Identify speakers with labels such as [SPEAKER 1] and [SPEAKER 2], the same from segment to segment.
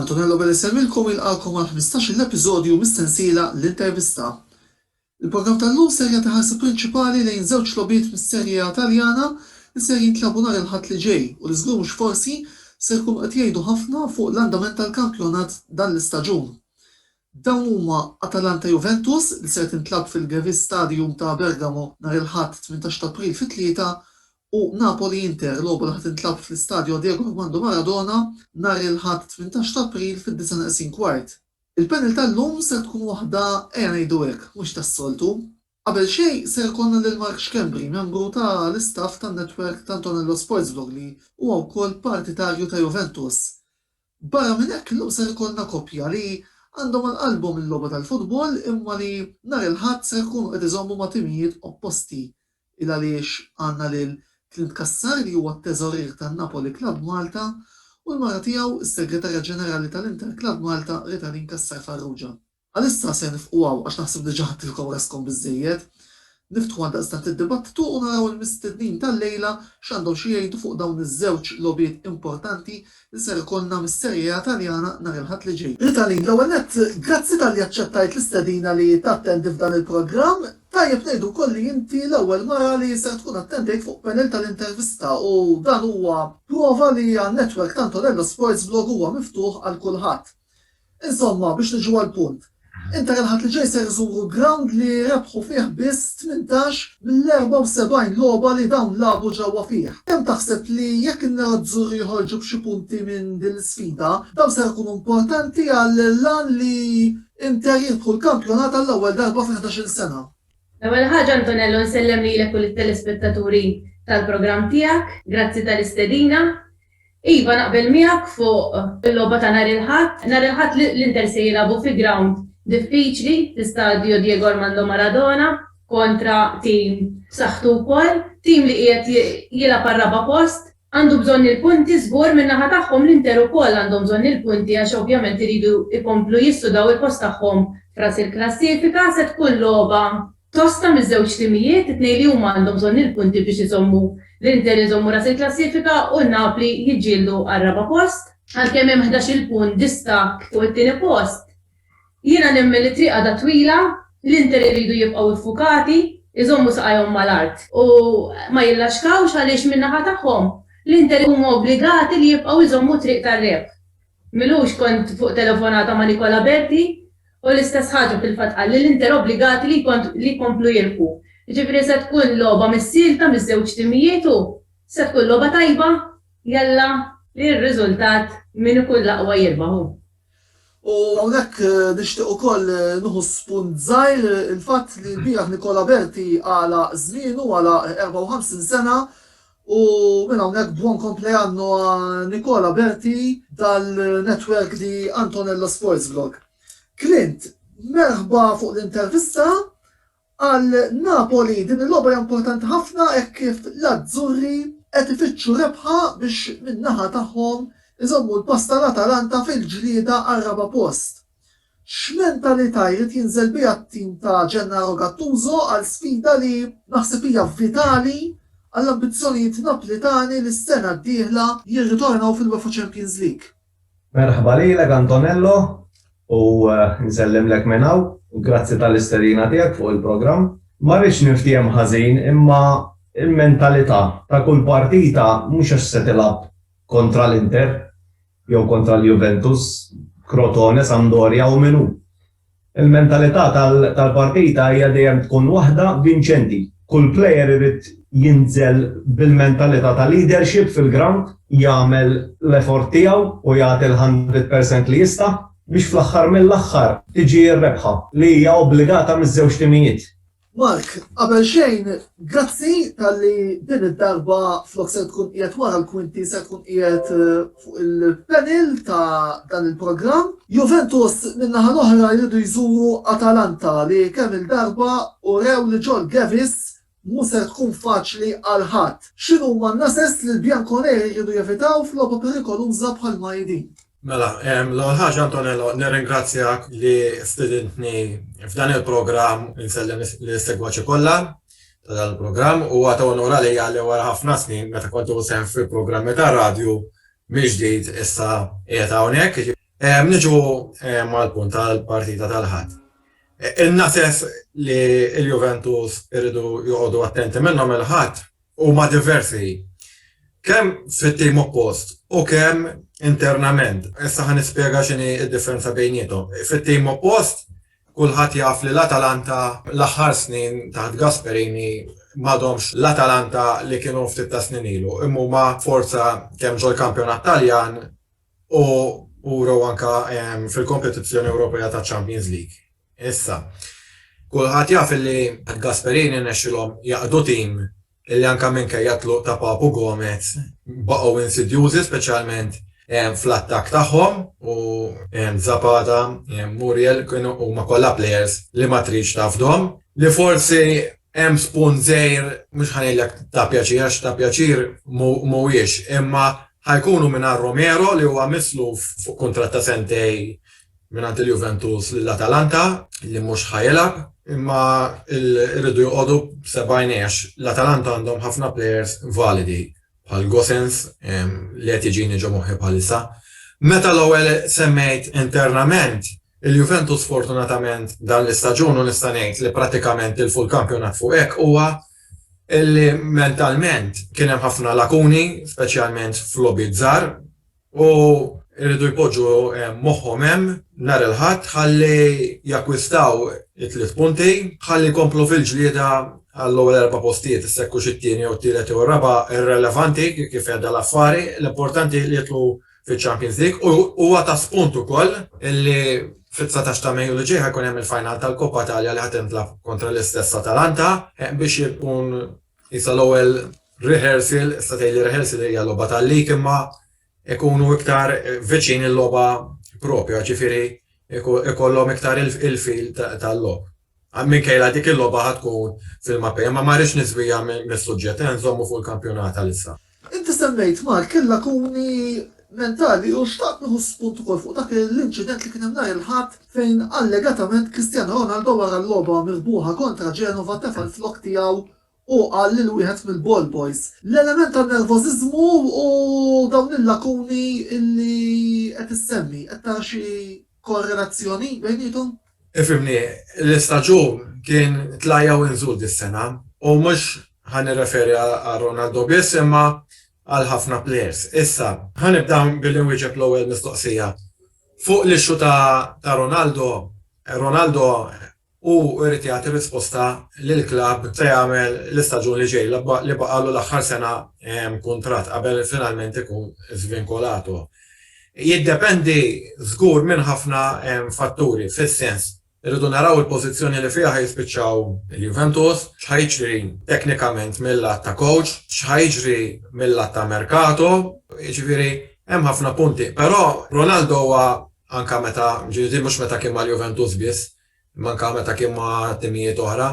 [SPEAKER 1] Antonello Belesemmilkom jilqakom għal 15 episodju mis-sensiela l-intervista. Il-programm tal-lum ser jagħti ħarsa prinċipali lejn żewġ lobiet mis-Serje A Taljana li ser jintlabu nhar il-Ħadd li ġej u li żgur mhux forsi ser jkunu qed jgħidu ħafna fuq l-andament tal-kampjonat dan l-istaġun. Dawn huma Atalanta Juventus li ser tintlagħab fil-Gewiss Stadium ta' Bergamo nhar il-Ħadd tmintax ta' April fit-tlieta u Napoli Inter, logħba li ħa tintlagħab fl-Istadio Diego Armando Maradona nhar il-Ħadd tmintax ta' April fid-disgħa neqsin kwart. Il-panel tal-lum ser tkun waħda ejja ngħidu hekk mhux tas-soltu. Qabel xejn ser ikollna lil Mark Schembri, membru ta' l-istaff tan-netwerk t'Antonello Sportsblog li huwa wkoll partitarju ta' Juventus. Barra minn hekk illum ser ikollna koppja li għandhom għal qalbhom il-logħba tal-futbol imma li nhar il-Ħadd ser ikunu qed iżommu ma' timijiet opposti. Ilgħaliex għandna lil Clint Cassar li huwa t-teżorier tan-Napoli Club Malta u l-mara tiegħu, is-Segretarja Ġenerali ta' l-Inter Club Malta, Ritalin Cassar Farrugia. Għalissa ser nifqu hawn għax naħseb diġa ħadtilkom raskom biżżejjed. Niftħu għaldaqstant id-dibattitu u naraw il-mistednin tal-lejla x'għandhom xi jgħidu fuq dawn iż-żewġ logħbiet importanti li ser ikollna mis-Serie A Taljana nhar il-Ħadd li ġej. Ritalin, l-ewwel nett, grazzi talli aċċettajt l-istedina li tattendi f'dan il-programm. Tajjeb ngħidu wkoll li inti l-ewwel mara li ser tkun attendejt fuq panel tal-intervista u dan huwa prova li għan-network ta' Antonello Sports Blog huwa miftuħ għal kulħadd. Insomma, biex niġu għall-punt, Inter il-Ħadd li ġej ser iżuru grawnd li rebħu fih biss tmintax mill-74 logħba li dawn lagħbu ġewwa fih. Kemm taħseb li jekk in-Nerazzurri joħorġu b'xi punti minn din l-isfida, dawn ser ikunu importanti għall-għan li Inter jirbħu l-kampjonat għall-ewwel darba fi ħdax-il sena? L-ewwel ħaġa
[SPEAKER 2] Antonello nsellem lilek u lit-telespettaturi tal-programm tiegħek. Grazzi tal-istedina. Iva naqbel miegħek fuq il-logħba ta' nhar il-Ħadd. Nhar il-Ħadd l-Inter se jilagħbu fi grawnd diffiċli fl-Istadio Diego Armando Maradona kontra tim b'saħħtu wkoll, tim li qiegħed jilgħab għar-raba' post. Għandu bżonn il-punti żgur, min-naħa tagħhom l-Inter ukoll għandhom bżonn il-punti għax ovvjament iridu jkomplu jissudaw il-post tagħhom f'ras il-klassifika. Se tkun logħba Tosta miż-żewġ timijiet, it-tnejn li huma għandhom bżonn il-punti biex iżommu l-Inter iżommu ras il-klassifika u Napli jiġġieldu għar-raba' post. Għalkemm hemm ħdax-il punt distakk fuq it-tieni post, jiena nemmen li t-triq għadha twila, l-Inter iridu jibqgħu iffukati, iżommu saqajhom mal-art u ma jillaxkawx għaliex min-naħa tagħhom, l-Inter huma obbligati li jibqgħu jżommu t-triq tar-rebħ Milux kont fuq telefonata ma' Nicola Berti u l-istess ħaġa fil-fatt qal li l-Inter obbligati li li jkomplu jirbu. Jiġifieri se tkun logħba missielta miż-żewġ timijiet u se tkun logħba tajba jalla li r-riżultat min ikun l-aqwa jirbaħ hu. U
[SPEAKER 1] hawnhekk nixtieq ukoll nieħu spunt żgħir il-fatt li lbieraħ Nicola Berti għalaq żmienu, għalaq 54 sena, U minn hawnhekk buon compleanno a Nicola Berti tal network di Antonello Sports Vlog. Clint, merħba fuq l intervista, Għal Napoli din il logħba hija importanti ħafna hekk kif l Azzurri qed ifittxu rebħa biex min naħa tagħhom iżommu l pass tal Atalanta fil ġlieda għar raba post. X'mentalità jrid jinżel biha t-tim ta' Gennaro Gattuso għal sfida li naħseb hija vitali għall-ambizzjonijiet Naplitani li s-sena d-dieħla jirritornaw fil-UEFA Champions League? Merħba lilek
[SPEAKER 3] Antonello u nsellimlek minn hawn u grazzi tal-istedina tiegħek fuq il-programm. Ma rridx niftiehem ħażin imma l-mentalità ta' kull partita mhux għax se tilgħab kontra l-Inter jew kontra l-Juventus, Crotone, Sampdoria u min hu. Il-mentalità tal-partita hija dejjem tkun waħda vinċenti. Kull player irid jinżel bil-mentalità ta' leadership fil-grawnd, jagħmel l-effort tiegħu u jagħti l-hundred percent li jista' biex fl-aħħar mill-aħħar tiġi r-rebħa li hija obbligata miż-żewġ timijiet. Mark,
[SPEAKER 1] qabel xejn, grazzi talli din id-darba flok se tkun qiegħed wara l-kwinti se tkun qiegħed fuq il-panel ta' dan il-programm. Juventus min-naħa l-oħra jridu jżuru Atalanta li kemm-il darba urew li ġol Gevis mhu ser tkun faċli għal ħadd. X'inhuma n-nases li l-Bianconeri jridu jevitaw f'logħba perikoluża bħal ma hi din? Mela,
[SPEAKER 4] l-ewwel ħaġa Antonello, nirringrazzjak li stidintni f'dan il-programm u nsellem lis-segwaċi kollha ta' dan il-programm. Huwa ta' unur għalija li wara ħafna snin meta kont nieħu sehem fi programmi tar-radju mill-ġdid issa qiegħed hawnhekk. Niġu mal-punt tal-partita tal-Ħadd. Il-Nases li l-Juventus iridu joqogħdu attenti minnhom il-Ħadd huma diversi kemm fit-tim oppost u kemm internament. Issa ħa nispjega x'inhi d-differenza bejniethom. Fit-tim oppost, kulħadd jaf li l-Atalanta l-aħħar snin taħt Gasperini m'għadhomx l-Atalanta li kienu ftit tas-snin ilu, imma huma forza kemm ġol-kampjonat Taljan u wrew anke fil-kompetizzjoni Ewropea taċ-Champions League. Issa, kulħadd jaf li Gasperini rnexxielhom jaqdu tim li anke minkejja t-tluq ta' Papu Gomez baqgħu insidjużi speċjalment fl-attakk tagħhom u Zapata, Muriel kienu huma kollha plejers li ma tridx tafdhom, li forsi hemm spunt żgħir, mhux ħa ngħidlek ta' pjaċir għax ta' pjaċir mhuwiex, imma Ħa jkunu mingħajr Romero li huwa misluf fuq kuntratt ta' sentejn mingħand il-Juventus lil Atalanta li mhux ħa jilgħab. Imma rridu joqogħdu b'sebgħin għax l-Atalanta għandhom ħafna plejers validi bħal Gosens li qed jiġini ġo moħħi bħalissa. Meta l-ewwel semmejt internament, il-Juventus fortunatament dan l-istaġun u nista' ngħid li prattikament tilfu l-kampjonat fuq hekk huwa illi mentalment kien hemm ħafna lakuni, speċjalment f'logħbiet żgħar, u jridu jpoġġu eh, moħħhom hemm nhar il-Ħadd ħalli jakkwistaw it-tliet punti, ħalli jkomplu fil-ġlieda għall-ewwel erba' postijiet issekku xi tieni jew tielet jew raba' irrelevanti kif qiegħda l-affari, l-importanti li jitlu fiċ-Champions League u huwa ta' spunt ukoll illi fit-dsatax ta' Mejju li ġej ħa jkun hemm il-final tal-Coppa Italia li ħa tintlagħab kontra l-istess Atalanta biex ikun qisha l-ewwel rehearsal, issa tgħidli rehearsal hija logħba tal-league imma ikunu iktar viċin il-logħba proprja ġifieri jkollhom iktar il-feel tal-logħob. Minkejla dik il-logħba ħa tkun fil-Mapei, imma ma rridx niżwija mis-suġġett, ejja nżommu fuq il-kampjonat għalissa. Inti semmejt
[SPEAKER 1] Mark il-lakuni mentali u xtaqt nieħu spunt ukoll fuq dak l-inċident li kien hemm nhar il-Ħadd fejn allegatament Cristiano Ronaldo wara l-logħba mirbuħa kontra Genova tefa' l-flokk tiegħu Hu qal lil wieħed mill-ball boys, L-element tan-nervożiżmu u dawn il-lakuni li qed issemmi, qed tara xi korrelazzjoni bejniethom? Ifhimni,
[SPEAKER 4] l-istaġun kien tlajja u inżul dis-sena u mhux ħa nirreferi għal Ronaldo biss imma għal ħafna plejers. Issa, ħa nibda billi nwieġeb l-ewwel mistoqsija. Fuq l-issue ta' Ronaldo, Ronaldo u jrid jagħti risposta lill-klabb se jagħmel l-istaġun li ġej li baqgħalu l-aħħar sena kuntratt qabel finalment ikun żvinkolato. Jiddependi żgur minn ħafna fatturi fis-sens irridu naraw il-pożizzjoni li fiha ħa jispiċċaw il-Juventus, x'ħa jiġri teknikament mil-lat ta' coach, x'ħa jiġri mil-lat ta' merkato, jiġifieri hemm ħafna punti. Però Ronaldo huwa anke meta, jiġifieri mhux meta kien mal-Juventus biss, imma anke meta kien ma' timijiet oħra,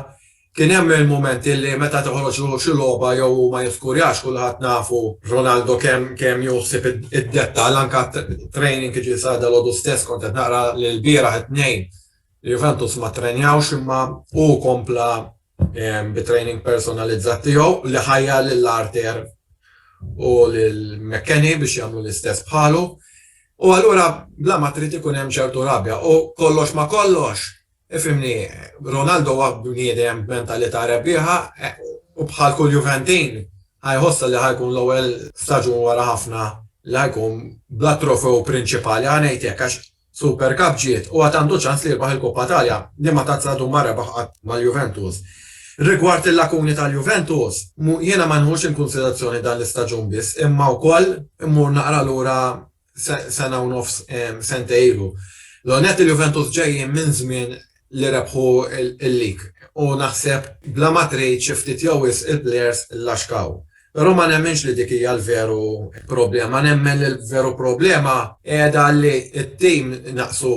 [SPEAKER 4] kien hemm il-mumenti li meta toħroġ hu xi logħba jew hu ma jiskurjax, kulħadd nafu Ronaldo kemm kemm jieħu ħsieb id-dettall, anke t-training jiġifieri sar dalgħodu stess kont qed naqra li lbieraħ it-Tnejn il-Juventus ma ttrenjawx imma hu kompla bit-training personalizzat tiegħu li ħajjar lil Arthur u lil McKenny biex jagħmlu l-istess bħalu. U allura bla ma trid ikun hemm ċertu rabja. U kollox ma kollox, ifhimni, Ronaldo huwa bniedem b'mentalità rebbieħa u bħal kull Juventin ħa jħossha li ħa jkun l-ewwel staġun wara ħafna li ħa jkun bla trofew prinċipali, ħa ngħid hekk, għax Super Cup ġiet u għad għandu ċans li jirbaħ il-Coppa Italia, liema tazza għadu ma rebaħ qatt mal-Juventus. Rigward il-lakuni tal-Juventus, jiena ma nħux inkunsiderazzjoni dan l-istaġun biss imma wkoll immur naqra lura sena u nofs, sentejn ilu. L-ewwel nett il-Juventus ġejjin minn żmien li rebħu l-lig u naħseb bla ma trid xi ftit jew wisq il-plejers llaxkaw. Però ma nemminx li dik hija l-veru problema. Nemmen li l-veru problema qiegħda li t-tim naqsu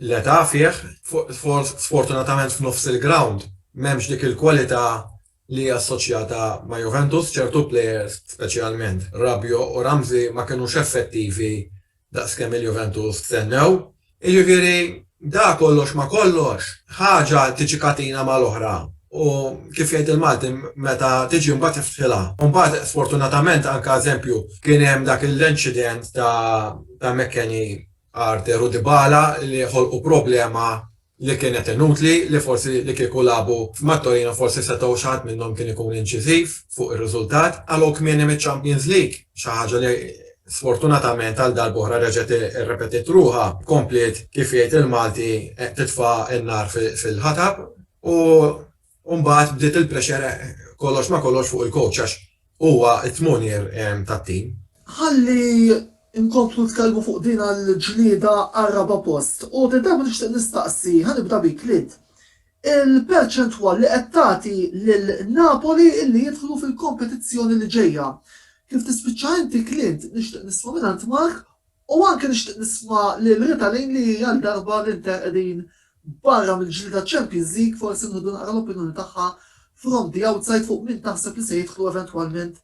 [SPEAKER 4] l-età fih, sfortunatament f'nofs il-grawnd m'hemmx dik il-kwalità li hija assoċjata ma' Juventus, ċertu plejers speċjalment Rabiot u Ramsey ma kinux effettivi daqs kemm il-Juventus stennew. Jiġifieri, dak kollox ma' kollox, ħaġa tiġi katina mal-oħra u, kif jgħid il-Malti, meta tiġi mbagħad iftħilha. U mbagħad, sfortunatament, anke eżempju, kien hemm dak il-incident ta' McKennie, Arthur u Dybala li ħolqu problema li kienet inutli, li forsi li kieku lagħbu ma' Torino forsi setgħu xi ħadd minnhom kien ikun inċiżiv fuq ir-riżultat, qalgħu kmieni miċ-Champions League, xi ħaġa li sfortunatament għal darb'oħra reġgħet irrepetiet ruħha, kompliet kif jgħid il-Malti titfa' n-nar fil-ħatab u U mbagħad bdiet il-pressure kollox ma' kollox fuq il-coach għax huwa t-tmonier tat-tim. Ħalli
[SPEAKER 1] nkomplu nitkellmu fuq din għall-ġlieda għar-raba' post. U din darba nixtieq nistaqsi, ħa nibda bik Lid, il-perċentwal li qed tagħti lil Napoli illi jidħlu fil-kompetizzjoni li ġejja. Kif tispiċċa inti, Clint, nixtieq nisma' mingħand Mark U anke nixtieq nisma' lil Rita Lane li għal darba li nter qegħdin barra mill-ġlieda għaċ-Champions League forsi nieħdu naqra l-opinjoni tagħha from the outside fuq min taħseb li se jidħlu eventwalment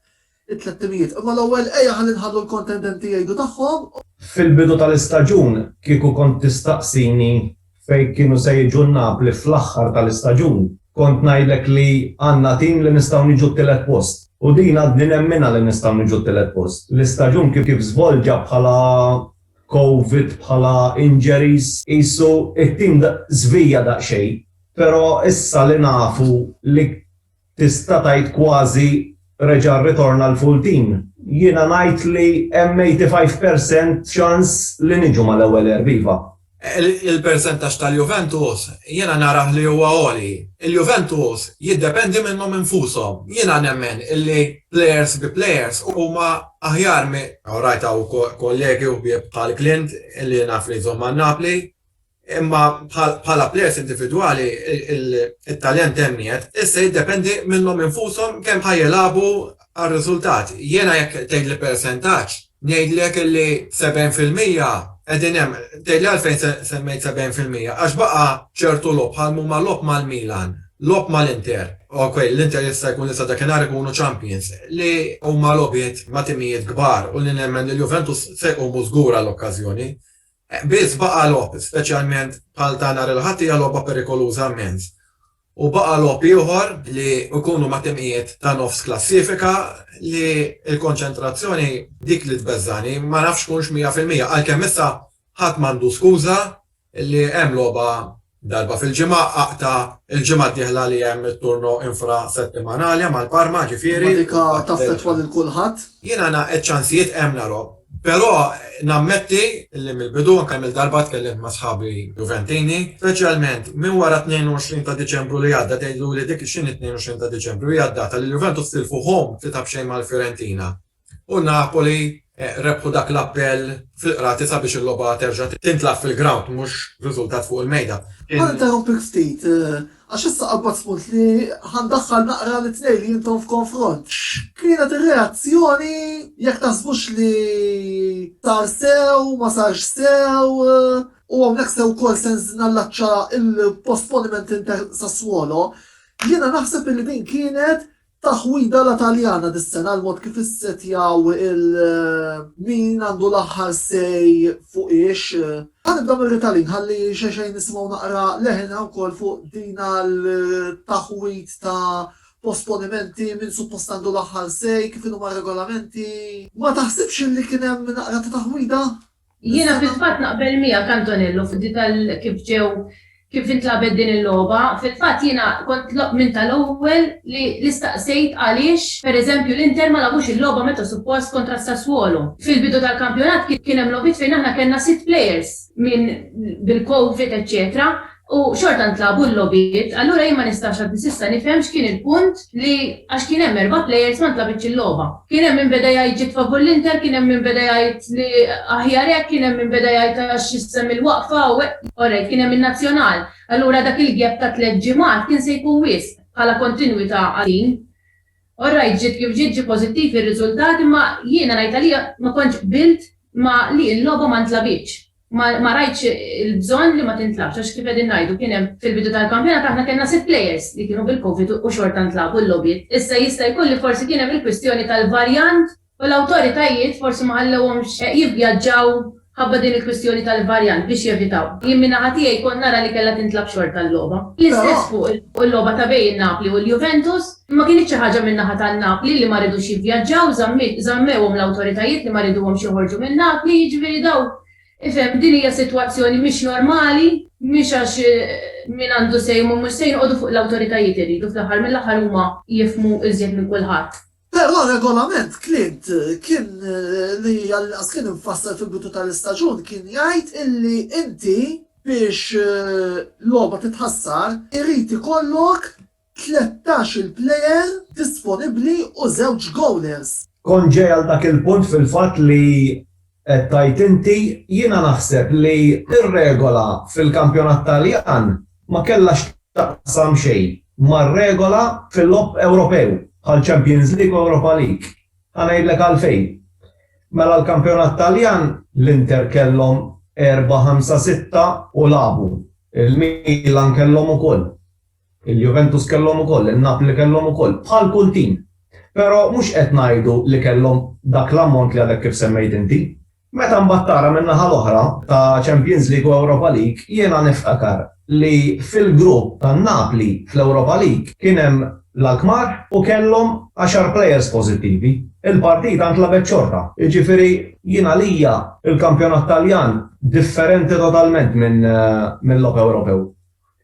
[SPEAKER 1] it-tlett timijiet. Imma l-ewwel ejja ħalli nħallu l-kontendenti jgħidu tagħhom. Fil-bidu
[SPEAKER 3] tal-istaġun kieku kont tistaqsini fejn kienu se jiġu n-Napli fl-aħħar tal-istaġun, kont ngħidlek li għandna tim li nistgħu niġu t-tielet post. U din għadni nemminha li nistgħu niġu t-tielet post. L-istaġun kif żvolġa bħala Covid, bħala injuries, qisu t-tim żvija daqsxejn, però issa li nafu li. Tista' tgħid kważi reġa' rritorna l-full team. Jiena ngħid li hemm 85 per cent ċans li niġu mal-ewwel erb iva. Il-persentaġġ
[SPEAKER 4] tal-Juventus jiena narah li huwa għoli. Il-Juventus jiddependi minnhom infushom. Jiena nemmen li plejers bi plejers huma aħjar minn. Orajt hawn kollegi u ħbieb bħal Clint li naf li jżomm għal Napli. Imma bħala plejers individwali, it-talent hemm qiegħed, issa jiddependi minnhom infushom kemm ħa jilagħbu għar-riżultat. Jiena jekk tgħidli persentaġġ, ngħidlek li 70 fil-mija qegħdin hemm. Tgħidli għalfejn semmejt 70 fil-mija, għax baqa' ċertu logħob bħal m'huma logħob mal-Milan, logħob mal-Inter, ok, l-Inter jista' jkun li sa dakinhar ikunu champions, li huma logħbiet ma' timijiet kbar u li nemmen li l-Juventus se jqumu żgur għall-okkażjoni. Biss baqa' logħob, speċjalment bħal ta' nhar il-Ħadd hija logħba perikoluża immens. U baqa' logħob ieħor li jkunu ma' timqiet ta' nofs klassifika li l-konċentrazzjoni dik li tbeżżagħni, ma nafx x'tkunx mija fil-mija, għalkemm issa ħadd m'għandu skuża li hemm logħba Darba fil-ġimgħa aqta'. Il-ġimgħa d-dieħla li hemm it-turno infra settimanali mal Parma ġifieri. Imma dik taffettwa
[SPEAKER 1] lil kulħadd? Jiena ngħaqad ċansijiet
[SPEAKER 4] hemm nara. Però nammetti li mill-bidu anke kemm-il darba tkellimt ma' sħabi Juventini, speċjalment minn wara t-22 ta' Diċembru li għadda tgħidluli dik x'inhi t-22 ta' Diċembru hija d-data li l-Juventus tilfu home tlieta b'xejn mal-Fiorentina. u Napoli rebħu dak l-appell fil-Qrati sabiex il-logħba terġa' tintlagħab fil-grawnd mhux riżultat fuq il-mejda. Ħa ninterrompik
[SPEAKER 1] ftit, għax issa qabbad spunt li ħa ndaħħal naqra lit-tnejn li intom f'konfront. X'kienet ir-reazzjoni, jekk taħsbux li sar sew, ma sarx sew, u hawnhekk se wkoll se nallaċċa l-postponiment Inter-Sassuolo, jiena naħseb li din kienet Taħwida la Taljana dis-sena għal mod kif issettjaw il min għandu l-aħħar say fuq ix. Ħa nibda mir-Ritalin ħalli xejxejn nisimgħu naqra leħinha wkoll fuq din għal taħwid ta' posponimenti, min suppost għandu l-aħħar say, kif inhuma r-regolamenti. Ma taħsibx li kien hemm naqra ta' taħwida? Jiena fil-fatt
[SPEAKER 2] naqbel miegħek Antonello fuq di tal kif ġew kif intlagħbet din il-logħba. Fil-fatt jiena kont minn tal-ewwel li li staqsejt għaliex, per eżempju, l-Inter ma lagħbux il-logħba meta suppost kontra s-Sassuolo. Fil-bidu tal-kampjonat kien hemm logħbiet fejn aħna kellna sitt players minn bil-Covid eċċetera u xorta ntlagħbu l-logħbiet, allura jien ma nistax għadni s'issa nifhem x'kien il-punt li għax kien hemm erba' players ma ntlagħbitx il-logħba. Kien hemm min beda jgħid ġiet favur l-Inter, kien hemm min beda jgħid li aħjar hekk, kien hemm min beda jgħid għax s'hemm il-waqfa u hekk. Orrejt, kien hemm in-Nazzjonal, allura dak il-gap ta' tliet ġimgħat kien se jkun wisq bħala kontinwità għal din. Orrejt, ġiet kif ġiet, ġie pożittiv ir-riżultat imma jiena ngħid għalija ma kontx qbilt ma' li l-logħba ma ntlagħbitx. Ma ma rajtx il-bżonn li ma tintlagħabx għax kif qegħdin ngħidu kien hemm fil-bidu tal-kampjonat aħna kellna sitt players li kienu bil-Covid u xorta ntlagħbu l-logħbiet. Issa jista' jkun li forsi kien hemm il-kwistjoni tal-varjant u l-awtoritajiet forsi ma ħallewhomx jivvjaġġaw ħabba din il-kwistjoni tal-varjant biex jevitaw. Jien minn naħa tiegħi kont nara li kellha tintlagħab xorta l-logħba. L-istess fuq il-logħba ta' bejn Napli u l-Juventus. Imma kienet xi ħaġa minn naħa ta' Napli li ma ridux jivvjaġġaw, żammiet, żammewhom l-awtoritajiet li ma riduhomx joħorġu minn Napli, jiġifieri dawk, ifhem, din hija sitwazzjoni mhix normali, mhix għax min għandu say huma mhux say noqogħdu fuq l-awtoritajiet irridu fl-aħħar mill-aħħar huma jifhmu iżjed minn kulħadd. Però r-regolament
[SPEAKER 1] Clint kien li għall-inqas kien imfassal fil-bidu tal-istaġun kien jgħid illi inti biex logħba titħassar irid ikollok Tlettax-il plejer disponibbli u żewġ gowlers. Kont ġej għal dak
[SPEAKER 3] il-punt fil-fatt li qed tgħid inti. Jiena naħseb li r-regola fil-kampjonat Taljan ma kellha x'taqsam xejn mar-regola fil-logħob Ewropew bħal Champions League u Europa League. Ħa ngħidlek għalfejn. Mela l-kampjonat Taljan l-Inter kellhom erba' ħamsa sitta u lagħbu. Il-Milan kellhom ukoll. Il-Juventus kellhom ukoll, in-Napli kellhom ukoll, bħal kull tim. Però mhux qed ngħidu li kellhom dak l-ammont li għadek kif semmejt inti. Meta mbagħad tara min-naħa l-oħra, ta' Champions League u Europa League, jiena niftakar li fil-grupp tan-Napli fl-Europa League kien hemm l-Alkmaar u kellhom għaxar plejers pożittivi. Il-partita ntlagħbet xorta. Jiġifieri jien għalija l-kampjonat Taljan differenti totalment minn logħob Ewropew.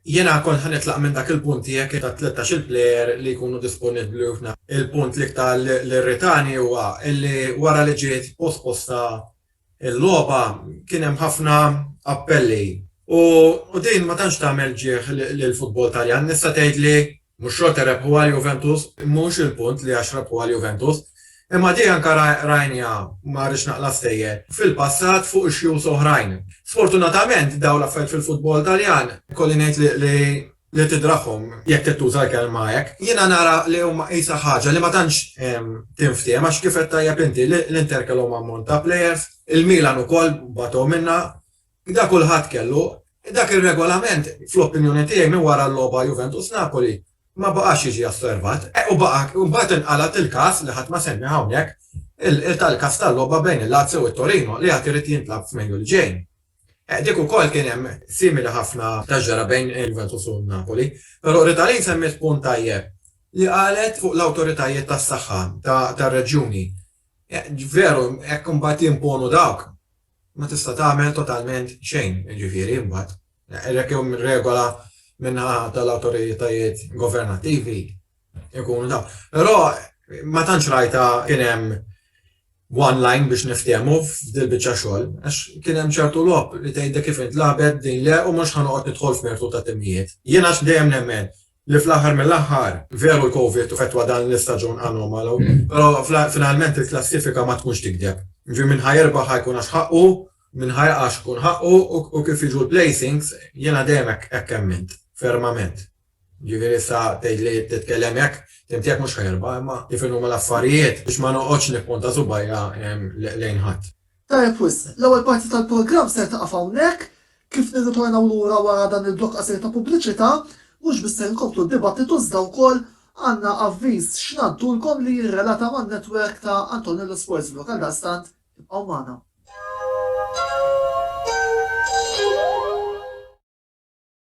[SPEAKER 3] Jiena kont
[SPEAKER 4] ħa nitlaq minn dak il-punt tiegħek ta' tlettax-il plejer li jkunu disponibbli u f'na. Il-punt l-iktar li rritani huwa li wara li ġiet posposta l-logħba kien hemm ħafna appelli u din ma tantx tagħmel ġieħ lill-futbol Taljan. Nista' tgħid li Mhux xorta rebħu għal Juventus, mhux il-punt li għax rebħu għal Juventus, imma din anke rajniha, ma rridx naqla' stejjer, fil-passat fuq ixjus oħrajn. Sfortunatament dawn l-affarijiet fil-futbol Taljan ikolli ngħid li tidraħħhom, jekk trid tuża l-kelma hekk. Jiena nara li huma qisha ħaġa li ma tantx tinftiehem għax kif għedt tajjeb inti, l-Inter kellhom ammont ta' plejers, il-Milan ukoll batgħu minnha, Gda kulħadd kellu. Dak ir-regolament, fl-opinjoni tiegħi minn wara l-logħba Juventus-Napoli, ma baqax jiġi osservat. Eh, u baqa', u mbagħad inqalgħet il-każ, li ħadd ma semmieh hawnhekk, tal-każ tal-logħba bejn il-Lazio u t-Torino, li għad irid jintlagħab f'Mejju li ġej. Eh, dik ukoll kien hemm simili ħafna ta' ġara bejn Juventus u Napoli. Però Ritalin semmiet punt tajjeb li qalet fuq l-awtoritajiet tas-saħħa tar-reġjuni. Eh, veru, hekk imbagħad jimponu dawk. ma tista' tagħmel totalment xejn, jiġifieri imbagħad, hekk jew mir-regola min-naħa tal-awtoritajiet governattivi jkunu dawn. Però ma tantx rajtha kien hemm one line biex niftehmu f'dil-biċċa xogħol, għax kien hemm ċertu logħob li tgħidlek kif intlagħbet din le u mhux ħa noqgħod nidħol f'mertu ta' timijiet. Jiena dejjem nemmen li fl-aħħar mill-aħħar, veru l-Covid fetwa dan l-istaġun anomalu, però finalment il-klassifika ma tkunx tikdeb. Jiġifieri min ħa jirbaħ ħa jkun għax ħaqqu, min ħa jaqa' għax ikun ħaqqu u kif jiġu l-placings jiena dejjem hekk emmint, fermament. Jiġifieri issa tgħidli titkellem hekk, tgħid jekk mhux ħa jirbaħ, imma kif inhuma l-affarijiet biex ma noqgħodx nippunta subgħajja lejn ħadd. Tajjeb wisq,
[SPEAKER 1] l-ewwel parti tal-programm ser tieqaf hawnhekk. Kif nirritornaw lura wara dan il-blokk qasir ta' pubbliċità, mhux biss ser inkomplu d-dibattitu iżda wkoll għandna avviż x'ngħaddulkom li jirrelata man-netwerk ta' Antonello Sports Blog għaldaqstant ibqgħu magħna.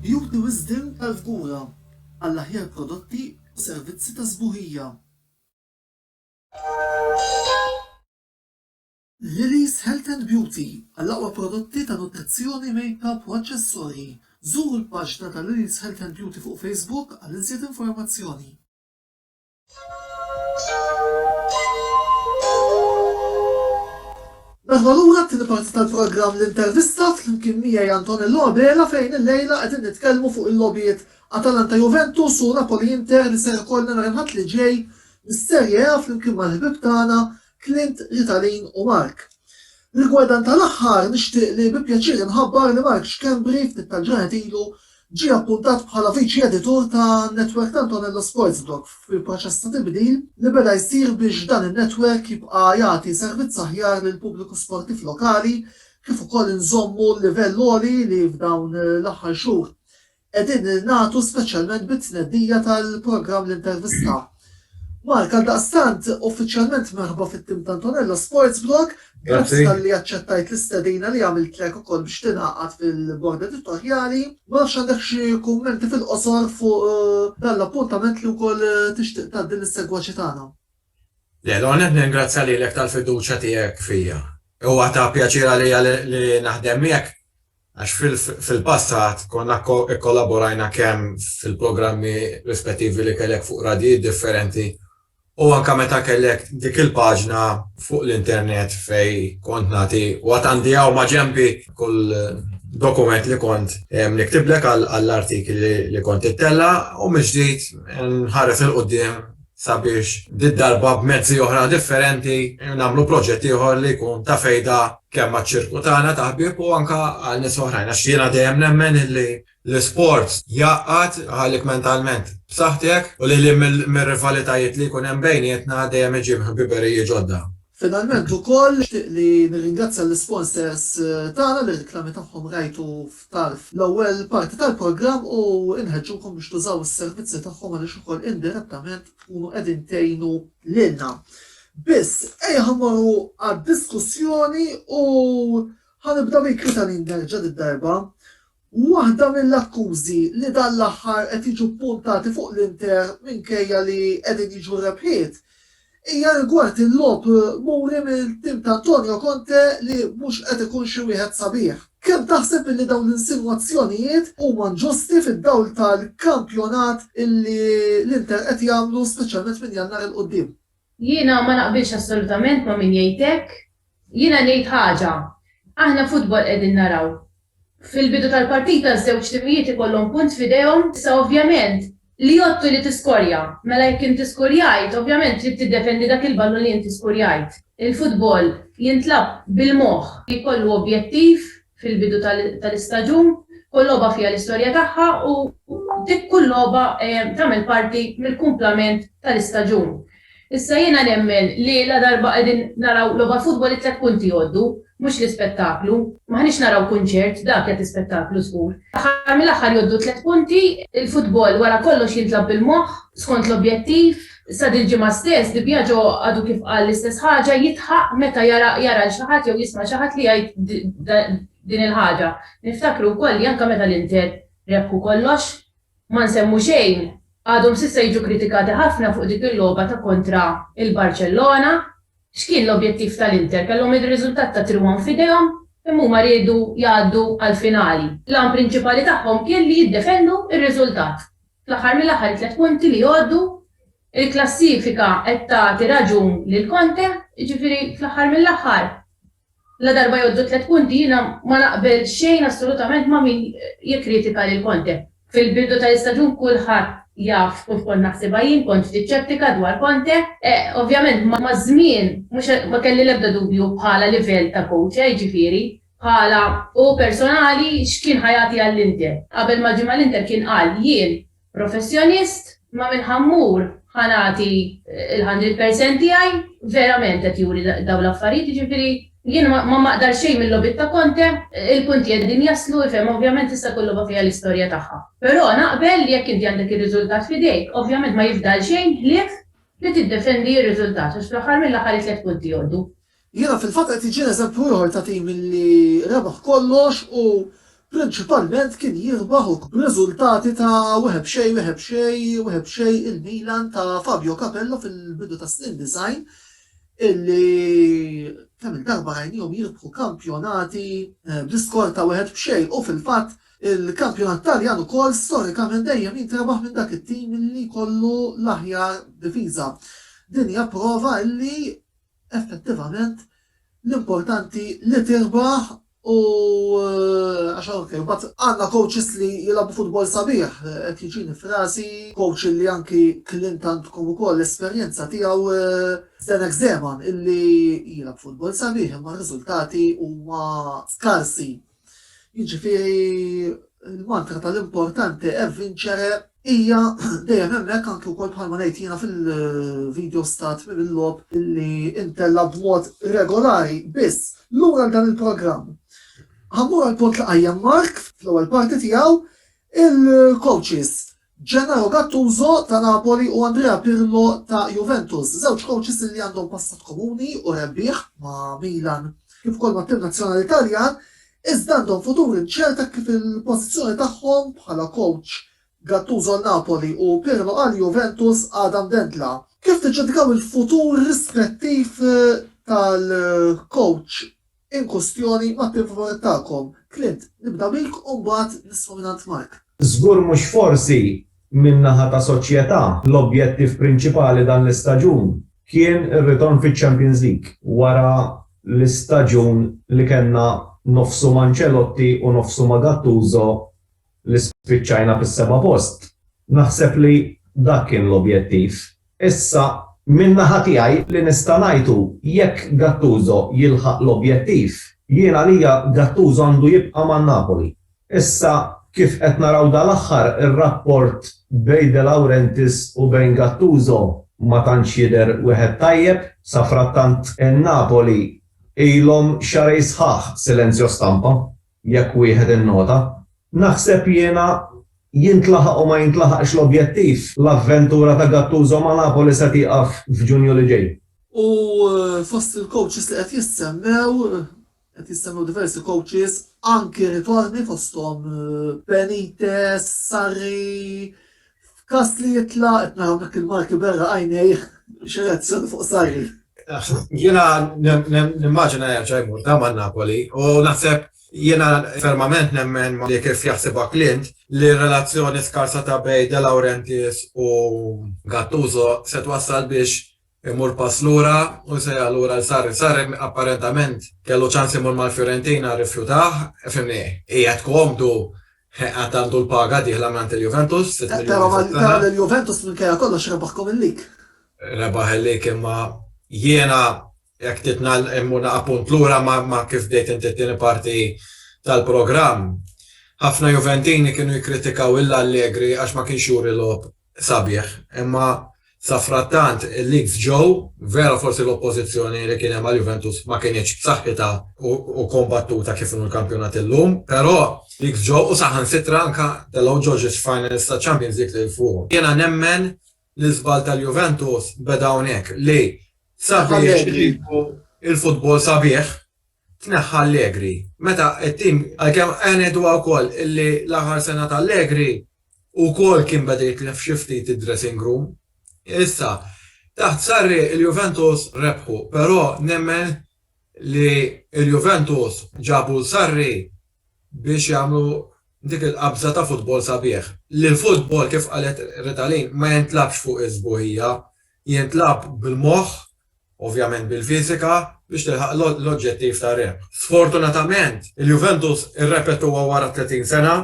[SPEAKER 1] Juri wisdien tal-kura għall-aħjar prodotti u servizzi ta' sbuħija. Lily's Health and Beauty għall-aqwa prodotti ta' nutrizzjoni, makeup u aċċessorji. Żuru l-paġna ta' Lily's Health and Beauty fuq Facebook għal iżjed informazzjoni. Merħba lura għat-tieni parti tal-programm L-Intervista flimkien miegħi Antonello Abela fejn illejla qegħdin nitkellmu fuq il-logħbiet Atalanta-Juventus u Napoli-Inter li ser ikollna nhar il-Ħadd li ġej mis-Serie A flimkien mal-ħbieb tagħna Clint, Ritalin u Mark. Rigward dan tal-aħħar, nixtieq li bi pjaċir inħabbar li Mark Schembri ftit tal-ġranet ilu ġie appuntat bħala Viċi Editur ta' netwerk t'Antonello Sportsblog fil-proċess ta' tibdil li beda jsir biex dan in-netwerk jibqa' jagħti servizz aħjar lill-pubbliku sportiv lokali kif ukoll inżommu l-livell għoli li f'dawn l-aħħar xhur Qegħdin ningħatu speċjalment bit-tnedija tal-programm L-Intervista. Mark, għaldaqstant, uffiċjalment merħba fit-tim ta' Antonello Sports Blog, grazzi talli aċċettajt l-istedina li għamiltlek ukoll biex tingħaqad fil-bord editorjali. Ma nafx għandek xi kummenti fil-qosor fuq eh, dan l-appuntament li wkoll eh, tixtieq tgħaddi lis-segwaċi tagħna. L-ewwel
[SPEAKER 4] nett ningrazzja lilek tal-fiduċja tiegħek fija. Huwa ta' pjaċir għalija li naħdem miegħek għax fil-passat konna kkollaborajna kemm fil-programmi rispettivi li kellek fuq radjijiet differenti u anke meta kellek dik il-paġna fuq l-internet fejn kont nagħti waqt għandi hawn ma' ġenbi kull dokument li kont niktiblek għall-artikli li kont ittella' u mill-ġdid nħares 'il quddiem sabiex did-darba b'mezzi oħra differenti nagħmlu proġett ieħor li jkun ta' fejda kemm għaċ-ċirku tagħna ta' ħbieb u anke għal nies oħrajn għax jiena dejjem nemmen li l-isport jgħaqqad jħallih mentalment b'saħħtek u lil hinn mir-rivalitajiet li jkun hemm bejnietna dejjem iġib ħbiberiji ġodda. Finalment ukoll
[SPEAKER 1] nixtieq li nirringrazzja lis-sponsors tagħna li r-reklami tagħhom rajtu f'tarf l-ewwel parti tal-programm u nħeġġukom biex tużaw is-servizzi tagħhom għaliex ukoll indirettament tkunu qegħdin tgħinu lilna. Biss, ejja ħa mmorru għad-diskussjoni u ħa nibda bik Ritalin Nerġa' did-darba Waħda mill-akkużi li dan l-aħħar qed jiġu ppuntati fuq l-Inter minkejja li qegħdin jiġu r-rebħiet hija rigward il-logħob muri mill-tim ta' Antonio Conte li mhux qed ikun xi wieħed sabiħ. Kemm taħseb illi dawn l-insinwazzjonijiet huma nġusti fid-dawl tal-kampjonat illi l-Inter qed jagħmlu speċjalment minn Jannar 'il quddiem? Jiena ma
[SPEAKER 2] naqbilx assolutament ma' min jgħid hekk. Jiena ngħid ħaġa, aħna futbol qegħdin naraw. Fil-bidu tal-partita ż-żewġ timijiet ikollhom punt f'idejhom, issa ovvjament li jgħodd hu li tiskorja. Mela jekk inti skurjajt, ovvjament trid tiddefendi dak il-ballun li inti skurjajt. Il-futbol jintlagħab bil-moħħ, jkollu objettiv fil-bidu tal-istaġun, kull logħba fiha l-istorja tagħha u dik kull logħba tagħmel parti mill-kumplament tal-istaġun. Issa jiena nemmen li ladarba qegħdin naraw logħba futbol it-tliet punti jgħoddu, mhux l-ispettaklu. M'aħniex naraw kunċert, dak jagħti spettaklu żgur. Fl-aħħar mill-aħħar jgħoddu t-tliet punti, il-futbol wara kollox jintlagħab bil-moħħ, skont l-objettiv. Issa dil-ġimgħa stess, Di Biagio għadu kif qal l-istess ħaġa, jidħaq meta jara jara lil xi ħadd jew jisma' xi ħadd li jgħid din il-ħaġa. Niftakru wkoll li anke meta l-Inter rebħu kollox, ma nsemmu xejn, għadhom s'issa jiġu kritikati ħafna fuq dik il-logħba ta' kontra il-Barċellona. X'kien l-objettiv tal-Inter? Kellhom ir-riżultat ta' trirwom f'idejhom, imma huma riedu jgħaddu għall-finali. L-għan prinċipali tagħhom kien li jiddefendu r-riżultat. Fl-aħħar mill-aħħar it-tliet punti li jgħoddu, il-klassifika qed tagħti raġun lil Conte, jiġifieri fl-aħħar mill-aħħar ladarba jgħoddu t-tliet punti jiena ma naqbel xejn assolutament ma' min jikkritika lil Conte. Fil-bidu tal-istaġun kulħadd jaf kif kont naħsibha jien, kont ftit xettika dwar Conte. Ovvjament maż-żmien mhux ma kelli l-ebda dubju bħala livell ta' coach, jiġifieri. Bħala hu personali x'kien ħa jagħti għall-Inter? Qabel ma ġie mal-Inter kien qal, Jien professjonist, ma minn ħa mmur ħa nagħti l-hundred percent tiegħi, verament qed juri dawn l-affarijiet, jiġifieri jien ma maqdar xejn mil-logħbiet ta' Conte, il-punti qegħdin jaslu, ifhem, ovvjament issa kull logħba fiha l-istorja tagħha. Però naqbel li jekk inti għandek ir-riżultat f'idejk, ovvjament ma jifdal xejn ħlief li tiddefendi r-riżultat għax fl-aħħar mill-aħħar it-tliet punti jgħoddu. Jiena
[SPEAKER 1] fil-fatt qed iġir eżempju ieħor ta' tim li rebaħ kollox u prinċipalment kien jirbaħ u. B'riżultati ta' wieħed b'xejn, wieħed b'xejn, wieħed b'xejn il-Milan ta' Fabio Capello fil-bidu tas-snin 90 illi kemm-il darba rajniehom jirbħu kampjonati bl-iskor ta' wieħed b'xejn u fil-fatt il-kampjonat Taljan ukoll storikament dejjem jintrebaħ minn dak it-tim illi jkollu l-aħjar difiża. Din hija prova illi Effettivament, l-importanti li tirbaħ u għax hawn kif. Imbagħad għandna coaches li jilgħabu futbol sabiħ, qed jiġini f'rasi coach illi anki klient għandkom ukoll l-esperjenza tiegħu Zdenek Zeman illi jilgħab futbol sabiħ imma r-riżultati huma skarsi. Jiġifieri l-mantra tal-importanti è vincere hija dejjem hemmhekk anke wkoll bħalma ngħid jiena fil-video stat mill-lob li intella b'mod regolari biss lura għal dan il-programm. Ħammur għal punt li qajjem Mark fl-ewwel parti tiegħu il-coaches Gennaro Gattuso ta' Napoli u Andrea Pirlo ta' Juventus, żewġ kowċis li għandhom passat komuni u rebbieħ ma' Milan kif ukoll mat-tim nazzjonali Taljan, iżda għandhom futur inċert hekk kif il-pożizzjoni tagħhom bħala kowċ, Gattuso għal Napoli u Pirlo għal Juventus, għadha mdendla. Kif tiġġudikaw il-futur rispettiv tal-kowċ? In kwistjoni ma' prim favorett tagħkom, Clint, nibda bik u mbagħad nisma' mingħand Mark. Żgur mhux
[SPEAKER 3] forsi min-naħa ta' Soċjetà l-objettiv prinċipali dan l-istaġun kien ir-ritorn fiċ-Champions League wara l-istaġun li kellna nofsu m'Ancelotti u nofsu ma' Gattuso li spiċċajna fis-seba' post, naħseb li dak kien l-objettiv. Issa, min-naħa tiegħi li nista' ngħid hu jekk Gattuso jilħaq l-objettiv, jien għalija Gattuso għandu jibqa' ma' Napoli. Issa, kif qed naraw dal-aħħar, ir-rapport bejn De Laurentiis u bejn Gattuso ma tantx jidher wieħed tajjeb. Safrattant, in-Napoli ilhom xahrejn sħaħ silenzjo stampa. jekk wieħed innota. Naħseb jiena, jintlaħaq u ma jintlaħaqx l-objettiv, l-avventura ta' Gattuso ma' Napoli se tieqaf f'Ġunju li ġej. U
[SPEAKER 1] fost il-coaches li qed jissemmew, qed jissemmew diversi coaches, anki ritorni fosthom Benitez, Sarri, F'każ li jitla' qed naraw dak il-Malti b'għera għajnejh xi reazzjoni fuq Sarri. Jiena
[SPEAKER 4] nimmaġina jerġa' jmur ta' ma' Napoli u naħseb jiena fermament nemmen li kif jaħsibha Clint li r-relazzjoni skarsa ta' bejn De Laurentiis u Gattuso se twassal biex Imur pass lura u jsejjaħ lura 'l Sarri. Sarri apparentament kellu ċans imur mal-Fiorentina rrifjutah, fimni, qiegħed komdu, għad għandu l-paga dieħla mingħand il-Juventus, sitt miljuni fis-sena. Qed tara li
[SPEAKER 1] l-Juventus minkejja kollox rebaħkom il-lig. Rebaħ il-lig
[SPEAKER 4] imma jiena jekk titna imur naqa' punt lura ma' kif bdejt inti t-tieni parti tal-programm. Ħafna Juventini kienu jikkritikaw 'l Allegri għax ma kienx juri logħob Sabiħ, imma safrattant il-leaks ġew, vera forsi l-oppożizzjoni li kien hemm għal Juventus ma kinitx b'saħħitha u kombattuta kif inhu l-kampjonat illum, però leaks ġew u saħansitra anke telgħu ġoġiex finals taċ-Champions League lil fuqhom. Jiena nemmen li żball tal-Juventus beda hawnhekk li sabiex iġibu l-futbol sabiħ tneħħa Allegri. Meta t-tim, għalkemm aħna ngħiduha wkoll li l-aħħar sena ta' Allegri wkoll kien beda jitlef xi ftit id-dressing room. Issa, taħt Sarri il-Juventus rebħu, però nemmen li l-Juventus ġabu 'l Sarri biex jagħmlu dik il-qabża ta' futbol sabiħ. Li l-futbol, kif qalet Ritalin, ma jintlabx fuq is-sbuħija, jintlagħab bil-moħħ ovvjament bil-fiżika, biex tilħaq l-oġġettiv ta' rebħ. Sfortunatament, il-Juventus irrepetuha wara t-tletin sena,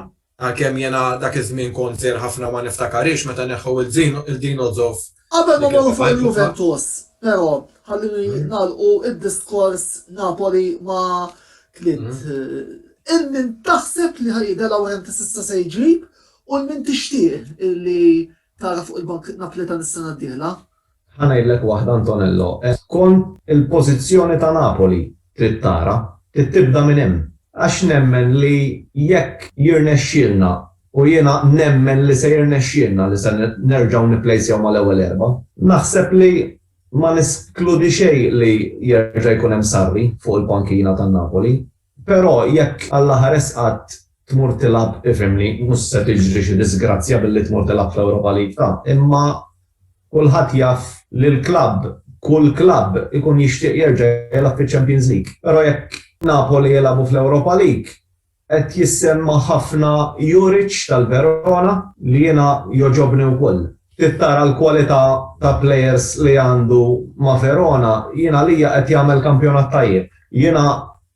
[SPEAKER 4] għalkemm jiena dak iż-żmien kont żgħir ħafna u ma niftakarhiex meta neħħew lil Dino Zoff. Qabel ma mmorru fuq
[SPEAKER 1] il-Juventus, però, ħalluni nagħlqu d-diskors Napoli ma' kliem. Il min taħseb li ħa jieħu De Laurentiis issa se jġib u l min tixtieq li tara fuq il-bank Napoletan is-sena d-dieħla? Ħa ngħidlek
[SPEAKER 3] waħda Antonello, qed tkun il-pożizzjoni ta' Napoli, trid tara, trid tibda minn hemm. Għax nemmen li jekk jirnexxielna, u jiena nemmen li se jirnexxielna li se nerġgħu nipplejsjaw mal-ewwel erba', naħseb li ma neskludi xejn li jerġa' jkun hemm Sarri fuq il-pankina tan-Napoli. Però jekk Alla ħares qatt tmur tilgħab ifhimni, mhux se tiġri xi diżgrazzja billi tmur tilgħab fl-Europa League ta' imma kulħadd jaf li l-klabb, kull klabb ikun jixtieq jerġa' jilgħab fiċ-Champions League. Però jekk Napoli jilgħabu fl-Europa League qed jissemma ħafna Juric tal-Verona li jiena jogħġobni wkoll. Ftit tara l-kwalità ta' players li għandu ma' Verona, jien għalija qed jagħmel kampjonat tajjeb. Jiena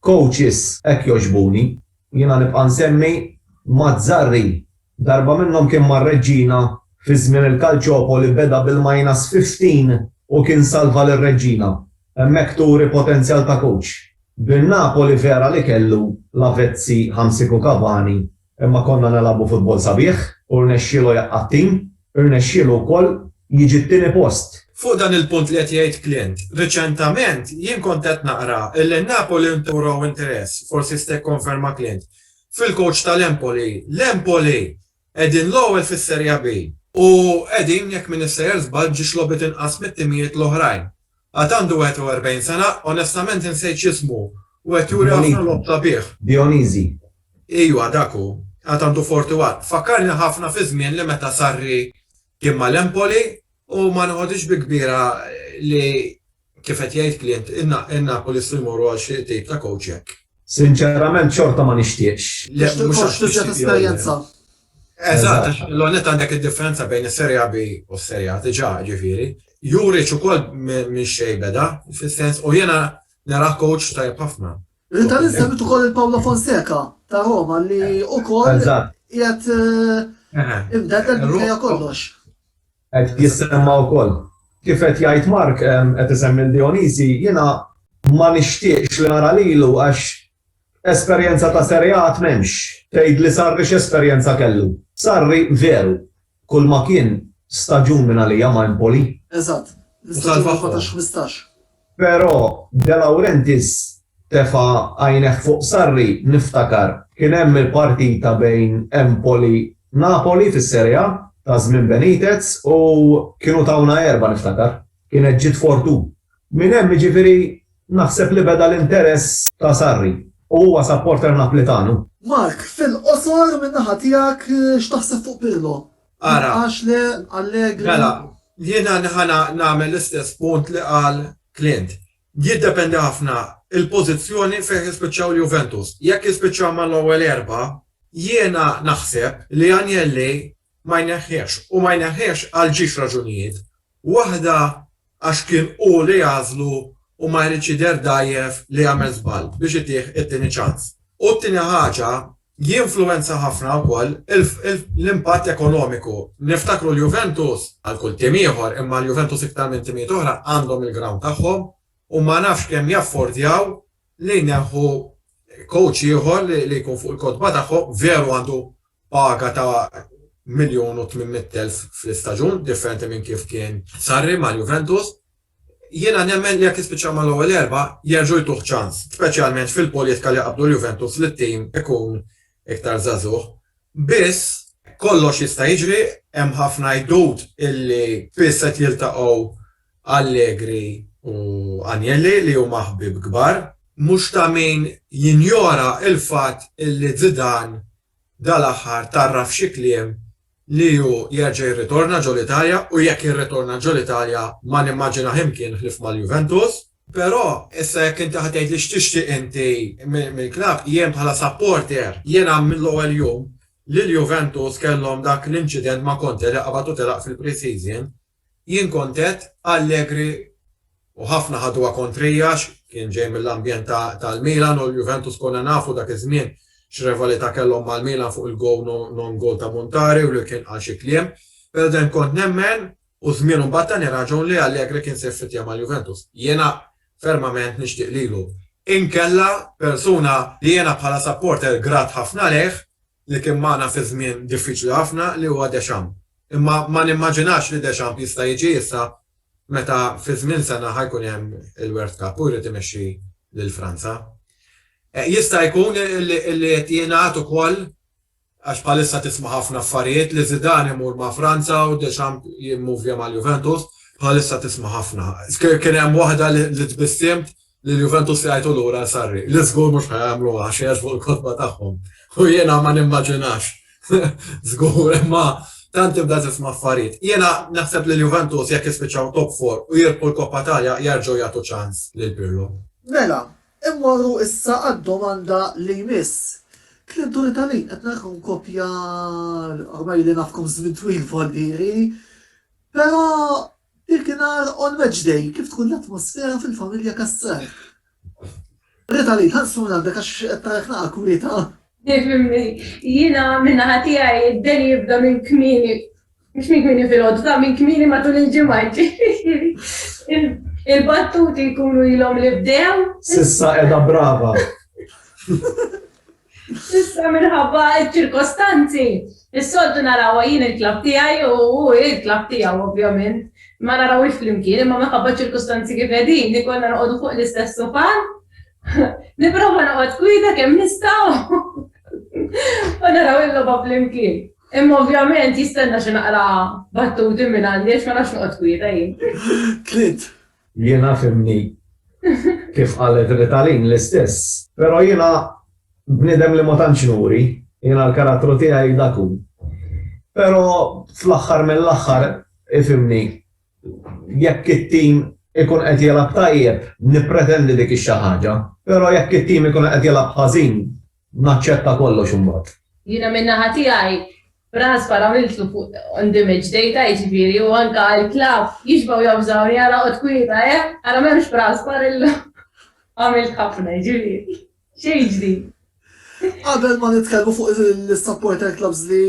[SPEAKER 3] coaches hekk jogħġbuni. Jiena nibqa' nsemmi Mazzarri. Darba minnhom kien mar-Reġġina fi żmien il-Calciopoli beda bil-minus 15 u kien salva lir-Reġġina. Hemmhekk turi potenzjal ta' coach. Bin-Napoli vera li kellu Lavezzi, Hamsik u Cavani Imma konna nilagħbu futbol sabiħ u rnexxielu jaqqa' t-tim, irnexxielu wkoll jiġi t-tieni post. Fuq dan il-punt li
[SPEAKER 4] qed jgħid Clint, riċentament jien kont qed naqra illi Napoli nturaw interess, forsi jista' jikkonferma Clint, fil-coach tal-Empoli. L-Empoli qegħdin l-ewwel fis-Seria B u qegħdin, jekk m'iniex sejjer żball, ġiex logħbiet inqas mit-timijiet l-oħrajn. Għad għandu 41 sena, onestament insejt x'ismu, u qed juri ħafna logħob sabiħ. Dionizi.
[SPEAKER 3] Ijwa,
[SPEAKER 4] dak hu. Għad għandu 41. Fakkarni ħafna fiż-żmien li meta Sarri kien mal-Empoli u ma noħodhiex bi kbira li, kif qed jgħid Clint, in-Napolisti jmorru għal xi tip ta' kowċ hekk. Sinċerament
[SPEAKER 3] xorta ma nixtieqx. Le, mhux għax tixtieq
[SPEAKER 1] jew le. Eżatt,
[SPEAKER 4] għax l-ewwel nett għandek id-differenza bejn is-Serie A B u s-Serie A diġà, ġifieri. Juric ukoll minn xejn beda, fis-sens u jiena nara coach tajjeb ħafna. Inta nsemmi
[SPEAKER 1] ukoll il-Paolo Fonseca ta' Roma li ukoll qiegħed imdedel minkejja kollox. Qed
[SPEAKER 3] jissemma wkoll. Kif qed jgħid Mark qed isemmi l-Dionisi, jiena ma nixtieqx li nara lilu għax Esperjenza ta' Sereat m'hemmx. Tgħid li Sarri x'esperjenza kellu. Sarri, veru, kulma kien, staġun minn għalija ma' Empoli. Eżatt,
[SPEAKER 1] l-istaġun 14-15. Però
[SPEAKER 3] De Laurentiis tefa' għajnejh fuq Sarri, niftakar, kien hemm il-partita bejn Empoli, Napoli fis-Sere'a ta' żmien Benitez u kienu tawna erbgħa niftakar. Kienet ġiet fortuna. Minn hemm jiġifieri. Naħseb li beda l-interess ta' Sarri u huwa supporter Naplitanu. Mark,
[SPEAKER 1] fil-qosor min-naħa tiegħek x'taħseb fuq Pirlo? Jibqax le Allegri?
[SPEAKER 4] Mela, jiena nagħmel l-istess punt li qal Clint. Jiddependi ħafna l-pożizzjoni fejn jispiċċaw l-Juventus. Jekk jispiċċaw mal-ewwel erbgħa, jiena naħseb li Agnelli ma jneħħihx u ma jneħħihx għal ġiex raġunijiet. Waħda għax kien hu li għażlu u ma jridx jidher dgħajjef li għamel żball biex itih it-tieni ċans. U t-tieni ħaġa, jinfluwenza ħafna wkoll l-impatt ekonomiku. Niftakru l-Juventus, bħal kull tim ieħor, imma l-Juventus iktar minn timijiet oħra, għandhom il-grawnd tagħhom u ma nafx kemm jaffordjaw li jneħħu kowċ ieħor li jkun fuq il-kotba tagħhom, veru għandu Paga ta' miljun u tmien mitt elf fl-istaġun, differenti minn kif kien Sarri mal-Juventus. Jiena nemmen li jekk jispiċċaw mal-ewwel erba' jerġgħu jtuh ċans, speċjalment fil-politika li qabdu l-Juventus li t-tim ikun iktar żagħżugħ. Biss, kollox jista' jiġri, hemm ħafna għidut illi spiss qed jiltaqgħu Allegri u Agnelli li huma ħbieb kbar. Mhux ta' min jinjora l-fatt li Zidane dal-aħħar tgħarraf f'xi kliem li hu jerġa' jirritorna ġol-Italja u jekk jirritorna ġol-Italja ma nimmaġinah imkien ħlief mal-Juventus. Però, issa jekk inti ħa tgħidli x'tixtieq inti mill-klabb, jien bħala supporter, jiena mill-ewwel jum li l-Juventus kellhom dak l-inċident ma' Conte li qabad u telaq fil-pre-season, Jien kont għedt Allegri u ħafna ħaduha kontrija għax kien ġej mill-ambjent tal-Milan u l-Juventus konna nafu dak iż-żmien x'revalità kellhom mal-Milan fuq il-goal no non goal ta' Montari u li kien qal xi kliem. Però dejjem kont nemmen u żmienu mbagħad tani raġun li Allegri kien se jfittja mal-Juventus. Jiena fermament nixtieq lilu. Inkella persuna li jiena bħala supporter grat ħafna lejh li kien magħna fi żmien diffiċli ħafna li huwa Deschamps. Imma ma nimmaġinax li Deschamps jista' jiġi issa meta fi żmien sena ħa jkun hemm il-World Cup u jrid imexxi lil Franza. Jista' jkun li qed jingħad ukoll, għax bħalissa tisma' ħafna affarijiet, li Zidane imur ma' Franza u Deschamps jimmuvja mal-Juventus, bħalissa tisma' ħafna. Kien hemm waħda li tbissiemt Lil Juventus jgħajtu lura għal Sarri, li żgur mhux ħa jagħmluha xi jgħaġbu l-kotba tagħhom. U jiena ma nimmaġinax. Żgur, imma tant tibda tisma' affarijiet. Jiena naħseb li l-Juventus jekk jispiċċaw top four u jirbħu l-Coppa Italia jerġgħu jagħtu ċans lil Pirlo. Mela,
[SPEAKER 1] immorru issa għad-domanda li jmiss. Kliem Tony Talin, qed narakom kopja ormai li nafkom żmien twil voldieri, però Dik nhar on match day kif tkun l-atmosfera fil-familja Cassar? Rita Lee, ħares minn għandek għax qed narek naqra kwieta. Tifhimni,
[SPEAKER 2] jiena minn naħa tiegħi d-deni jibda minn kmieni, mhux minn kmieni filgħodu, minn kmieni matul il-ġimgħa, jiġifieri il-battuti jkunu ilhom li bdew. S'issa qiegħda
[SPEAKER 3] brava.
[SPEAKER 2] Issa minħabba ċ-ċirkostanzi, is-soltu narawha jien il-klabb tiegħi u hu l-klabb tiegħu ovvjament, ma narawhiex flimkien imma minħabba ċ-ċirkustanzi kif qegħdin ikollna noqogħdu fuq l-istess sufan, nipprova noqgħod kwieta kemm nista' u naraw il-logħba flimkien. Imma ovvjament jistenna xi naqra battuti minn għandi għax ma nafx noqgħod kwieta jien. Tliet
[SPEAKER 1] Jiena
[SPEAKER 3] fhimni kif qalet Ritalin l-istess. Pero jiena bniedem li ma tantx nuri, jiena l-karattru tiegħi dak hu. Pero fl-aħħar mill-aħħar ifhimni jekk it-tim ikun qed jilgħab tajjeb nippretendi dik ix-xi ħaġa, pero jekk it-tim ikun qed jilgħab ħażin naċċetta kollox imbagħad. Jiena min-naħa
[SPEAKER 2] tiegħi Raħas para miltu fuq on the match data jiġifieri u anka il klav jixbgħu jobżgħuni ara qgħod kwieta eh ara m'hemmx b'raħas para illum għamilt ħafna jiġifieri xejn ġdid. Qabel
[SPEAKER 1] ma nitkellmu fuq l-supporter clubs li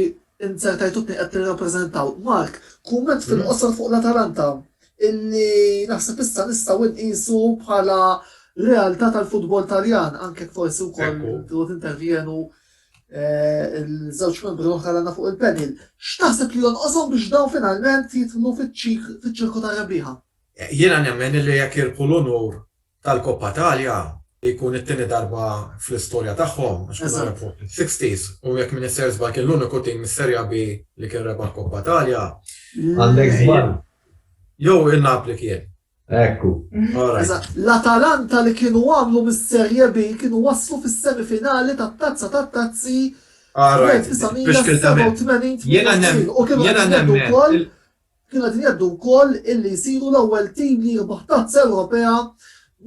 [SPEAKER 1] int ser tgħid u tni qed tirrappreżentaw, Mark, kumment fil-qosor fuq l-Atalanta illi naħseb issa nistgħu nqisu bħala realtà tal-futbol Taljan anke forsi wkoll intervjenu il-żewġ membri l-oħra l-għandna fuq il-panel, x'taħseb li jonqoshom biex dawn finalment jidħlu fiċ-ċirku tar-rebbieħa? Jiena nemmen
[SPEAKER 4] li jekk jirbħu l-unur tal-Coppa Italia, li jkun it-tieni darba fl-istorja tagħhom, għax kienu rebħu fis-60s, u jekk m'iniex ser żball kien l-uniku tim mis-Serie B li kien rebaħ Coppa Italia. Għandek
[SPEAKER 3] żball. Jew
[SPEAKER 4] in-Napli kien. Ekku.
[SPEAKER 3] Eżatt.
[SPEAKER 1] L-Atalanta li kienu għamlu mis-Serie B kienu waslu fis-semifinali tat-Tazza tat-Tazzi
[SPEAKER 4] fl-1987 u kienu qegħdin jgħaddu wkoll
[SPEAKER 1] kienu qegħdin jgħaddu wkoll illi jsiru l-ewwel tim li jirbaħ Tazza Ewropea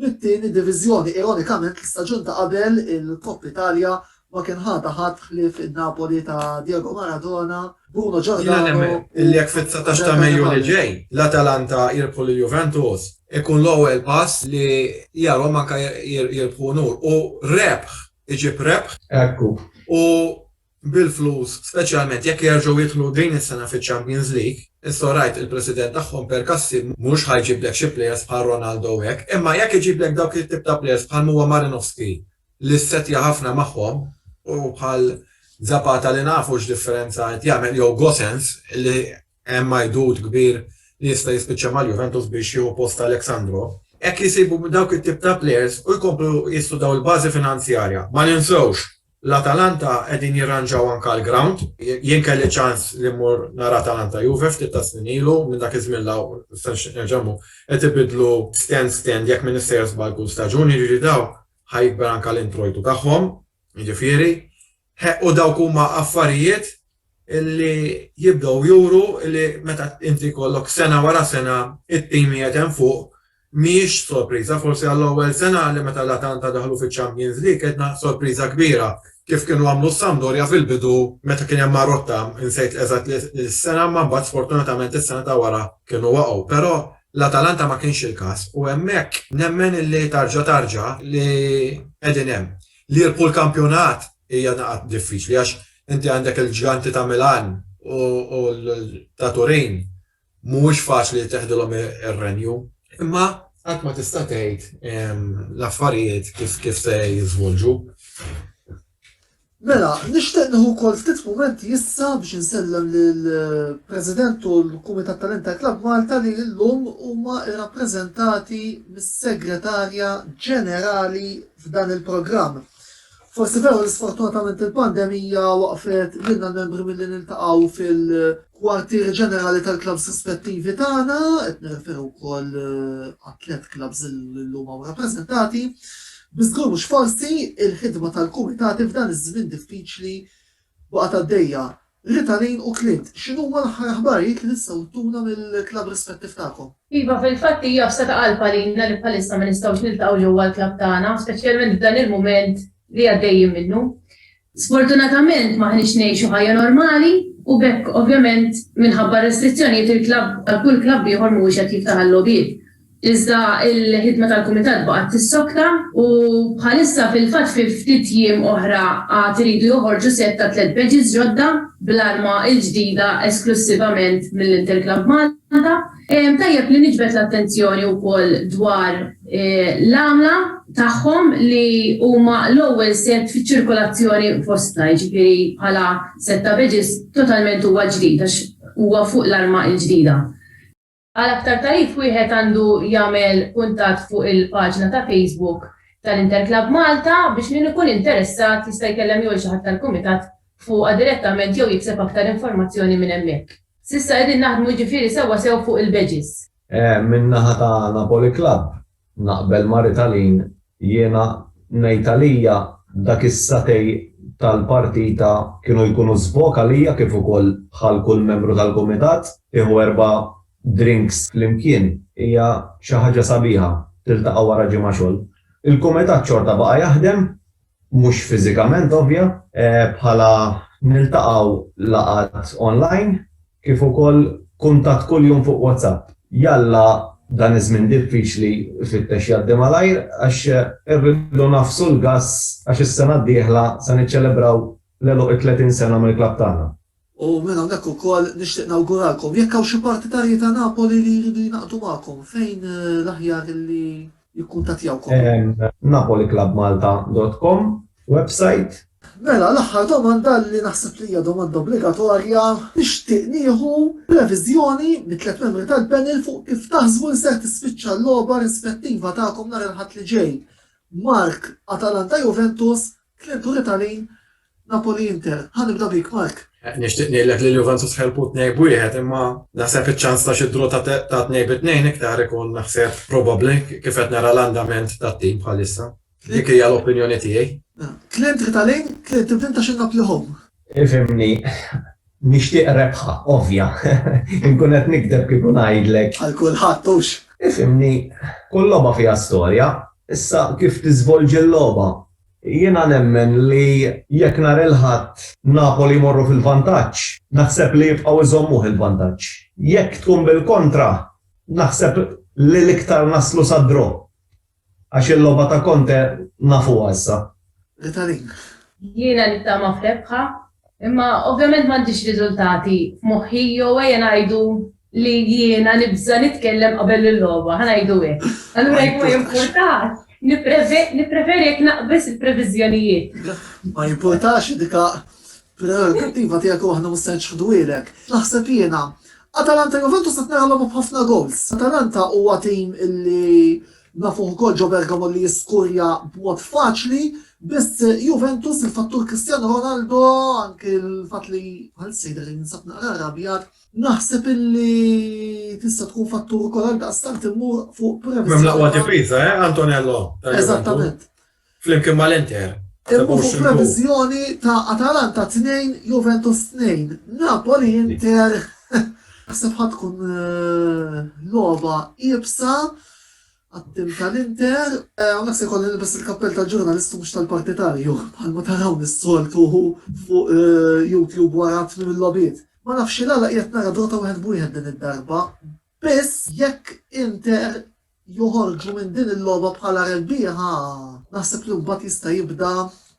[SPEAKER 1] mit-tieni diviżjoni. Ironikament l-istaġun ta' qabel il-Kopp Italja Ma kien ħata ħadd ħlief in-Napoli ta' Diego Maradona, Bruno Giordano u Gianni Donnarumma. Jiena nemmen li jekk fit-dsatax
[SPEAKER 4] ta' Mejju li ġej l-Atalanta jirbħu lil Juventus ikun l-ewwel pass li jarhom anke jirbħu unur u rebħ iġib rebħ. Ekku. U bil-flus, speċjalment jekk jerġgħu jidħlu din is-sena fiċ-Champions League, issa orajt il-President tagħhom Percassi mhux ħa jġiblek xi plejers bħal Ronaldo u hekk, imma jekk iġiblek dawk it-tip ta' plejers bħalma huwa Marinovski, li ssettja ħafna magħhom u bħal Zapata li nafu x'differenza qed jagħmel jew Gosens li hemm għidut kbir li jista' jispiċċa mal-Juventus biex jieħu post ta' Alex Sandro. Hekk jsibu dawk it-tip ta' plejers u jkomplu jistudaw il-bażi finanzjarja. Ma ninsewx, l-Atalanta qegħdin jirranġaw anke l-grawnd. Jien kelli ċ-ċans li mmur nara Atalanta Juve ftit tas-snin ilu, minn dak iż-żmien 'l hawn qed ibiddlu stand stand jekk m'iniex sejjer żball kull staġun, jiġifieri dawn Ħa jikber anke l-introjtu tagħhom, jiġifieri, u dawk huma affarijiet li jibdew juru li meta inti jkollok sena wara sena t-tim qiegħed hemm fuq, mhijiex sorpriża, forsi għall-ewwel sena li meta l-Atalanta daħlu fiċ-Champions League kellna sorpriża kbira kif kienu għamlu s-Sampdoria fil-bidu meta kien hemm Marotta, insejt eżatt is-sena imma mbagħad sfortunatament is-sena ta' wara kienu waqgħu, però l-Atalanta ma kienx il-każ u hemmhekk nemmen illi tarġa' tarġa' li qegħdin hemm. Li jirbħu l-kampjonat hija daqqa diffiċli għax inti għandek il-ġganti ta' Milan u ta' Turin mhuwiex faċli li teħdilhom ir-renju imma qatt ma tista' tgħid l-affarijiet kif se jiżvolġu.
[SPEAKER 1] Mela, nixtieq nieħu wkoll ftit mumenti issa biex insellem lill-President u l-Kumitat tal-Inter Club Malta li llum huma rrappreżentati mis-Segretarja Ġenerali f'dan il-programm. Forsi veru li sfortunatament il-pandemija waqfet lilna l-membri milli niltaqgħu fil-, Kwartieri ġenerali tal-klabbs rispettivi tagħna, qed nirreferu wkoll għat-tliet klabbs li llum hawn rappreżentati, bi żgur mhux forsi, il-ħidma tal-kumitati f'dan iż-żmien diffiċli baqgħet għaddejja. Rita Lane u Clint, x'inhuma l-aħħar aħbarijiet li tistgħu ttuna mill-klabb rispettiv tagħkom? Iva, fil-fatt hija
[SPEAKER 2] fsa ta' qalb għalina li bħalissa ma nistgħux niltaqgħu ġewwa l-klabb tagħna, speċjalment f'dan il-mument li għaddejjin minnu. Sfortunatament m'aħniex ngħixu ħajja normali u b'hekk ovvjament minħabba r-restrizzjonijiet il-klabb bħal kull klabb ieħor mhuwiex qed jiftaħ għal-logħbiet. Iżda il-ħidma tal-kumitat baqgħet tissokta u bħalissa fil-fatt fi ftit jiem oħra għad iridu joħorġu sett ta' tliet badges ġodda bl-arma l-ġdida esklussivament mill-Interclub Malta. Tajjeb li niġbed l-attenzjoni wkoll dwar l-għamla tagħhom li huma l-ewwel sett fiċ-ċirkolazzjoni fostna, jiġifieri bħala sett ta' badges totalment huwa ġdid għax huwa fuq l-arma l-ġdida. Għal aktar tagħrif wieħed għandu jagħmel kuntatt fuq il-paġna ta' Facebook tal-Interclub Malta biex min ikun interessat jista' jkellem jew lil xi ħadd tal-Kumitat fuqha direttament jew jikseb aktar informazzjoni minn hemmhekk. S'issa qegħdin naħdmu jiġifieri sewwa sew fuq il-badges. Min-naħa
[SPEAKER 3] ta' Napoli Club naqbel ma' Ritalin, jiena ngħid għalija dak is-satej tal-partita kienu jkunu żbok għalija kif ukoll bħal kull membru tal-kumitat, tieħu erba' drinks flimkien hija xi ħaġa sabiħa, tiltaqa' wara ġimgħa xogħol. Il-kumitat xorta baqa' jaħdem. mhux fiżikament ovvja, bħala niltaqgħu laqgħat online kif ukoll kuntatt kuljum fuq WhatsApp. Jalla dan iż-żmien diffiċli ifittex jgħaddi malajr għax irridu ngħaffsu l-gass għax is-sena d-dieħla se niċċelebraw l-għeluq it-30 sena mill-klabb tagħna. U minn hawnhekk
[SPEAKER 1] ukoll nixtieq nawguralkom, jekk hawn xi partitarji ta' Napoli li jridu jingħaqdu magħkom, fejn l-aħjar li jikkuntattjawkom? Napoliclubmalta dot com website. Mela, l-aħħar domanda li naħseb li hija domanda obbligatorja, nixtieq nieħu previżjoni mit-tliet membri tal-panel fuq kif taħsbu li ser tispiċċa l-logħba rispettiva tagħkom nhar il-Ħadd li ġej, Mark, Atalanta-Juventus, Klijenturi ta' Lin, Napoli Inter, ħa nibda bik Mark. Nixtieq ngħidlek li
[SPEAKER 4] l-Juventus ħelbu tnejn b'wieħed imma naħseb iċ-ċans ta' xi draw ta' tnejn bi tnejn iktar ikun naħseb probabbli kif qed nara l-andament tat-tim bħalissa. Dik hija l-opinjoni tiegħi. Klijentri ta'
[SPEAKER 1] Lin, Clint tibda int għax in-Napli home. Ifhimni,
[SPEAKER 3] nixtieq rebħa ovvja. Inkun qed nikdeb kieku ngħidlek. Għal kulħadd hux.
[SPEAKER 1] Ifhimni,
[SPEAKER 3] kull logħba fiha storja. Issa kif tiżvolġi l-logħba Jiena nemmen li jekk nhar il-Ħadd Napoli jmorru fil-vantaġġ, naħseb li jibqgħu jżommuh il-vantaġġ. Jekk tkun bil-kontra, naħseb li l-iktar naslu sa draw. Għax il-logħba ta' Conte nafuha issa. L-Italin.
[SPEAKER 1] Jiena
[SPEAKER 2] nittama f'rebħa, imma ovvjament m'għandix riżultati f'moħħi jew ejja ngħidu li jiena nibża' nitkellem qabel il-logħba, ħa ngħidu hekk. Allura jekk ma jimpurtax, nippreferi jekk naqbeż il-previżjonijiet. Ma
[SPEAKER 1] jimpurtax dika prerogattiva tiegħek u aħna mhux se nċħduhielek. Naħseb jiena, Atalanta Juventus qed nara logħba b'ħafna goals. Atalanta huwa tim li nafuh ukoll ġo Bergamo li jiskurja b'mod faċli, biss Juventus il-fattur Cristiano Ronaldo anke l-fatt li bħalissa jidher li jinsab naqra arrabjat Naħseb illi tista' tkun fattur ukoll għal daqstant immur fuq premessa. M'hemm l-aqwa difiża, eh,
[SPEAKER 4] Antonello? Eżattament.
[SPEAKER 1] Flimkien
[SPEAKER 4] mal-Inter. Immur fuq
[SPEAKER 1] previżjoni ta' Atalanta 2, Juventus 2, Napoli Inter. Naħseb ħadd tkun eh, logħba iebsa Għat-tim tal-Inter, hawnhekk se jkolli nilbes il-kappell tal-ġurnalist u mhux tal-partitarju, bħalma tarawni s-soltu fuq YouTube wara tmiem il-logħbiet. Ma nafx x'għala qiegħed nara Dota wieħed b'wieħed din id-darba, biss jekk Inter joħorġu minn din il-logħba bħala rebbieħa, naħseb li mbagħad jista' jibda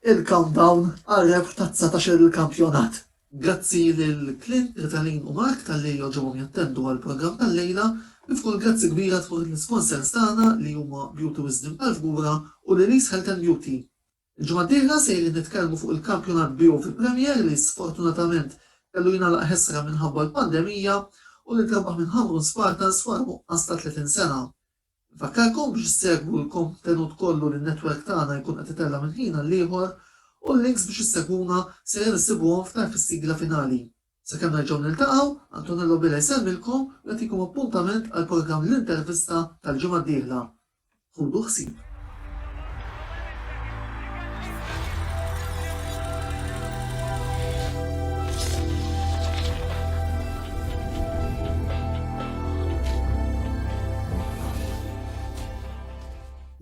[SPEAKER 1] il-countdown għar-rebħ tat-dsatax-il kampjonat. Grazzi lil Clint, Ritalin u Mark talli għoġobhom jattendu għall-programm tal-lejla. Nifqu l-grazzi kbira tmur lill-isponsers tagħna li huma Beauty Wisdom tal-Fgura u Lily's Health and Beauty. Il-ġimgħa d-dieħla sejrin nitkellmu fuq il-kampjonat BOV Premier li sfortunatament kellu jingħalaq ħesra minħabba l-pandemija u li trebaħ minn Ħamrun Spartans wara nuqqas ta' 30 sena. Infakkarkom biex issegwu l-kontenut kollu li n-netwerk tagħna jkun qed itella' minn ħin għall-ieħor u l-links biex issegwuna sejrin issibuhom f'tarf is-sigla finali. Sakemm nerġgħu niltaqgħu, Antonello Bela jsellmilkom u jagħtikom appuntament għall-programm L-Intervista tal-ġimgħa d-dieħla. Ħudu ħsieb.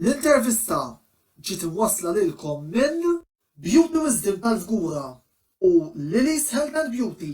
[SPEAKER 1] L-intervista ġiet imwassla lilkom minn Beauty Wisdom tal-Fgura u Lili's Health and Beauty.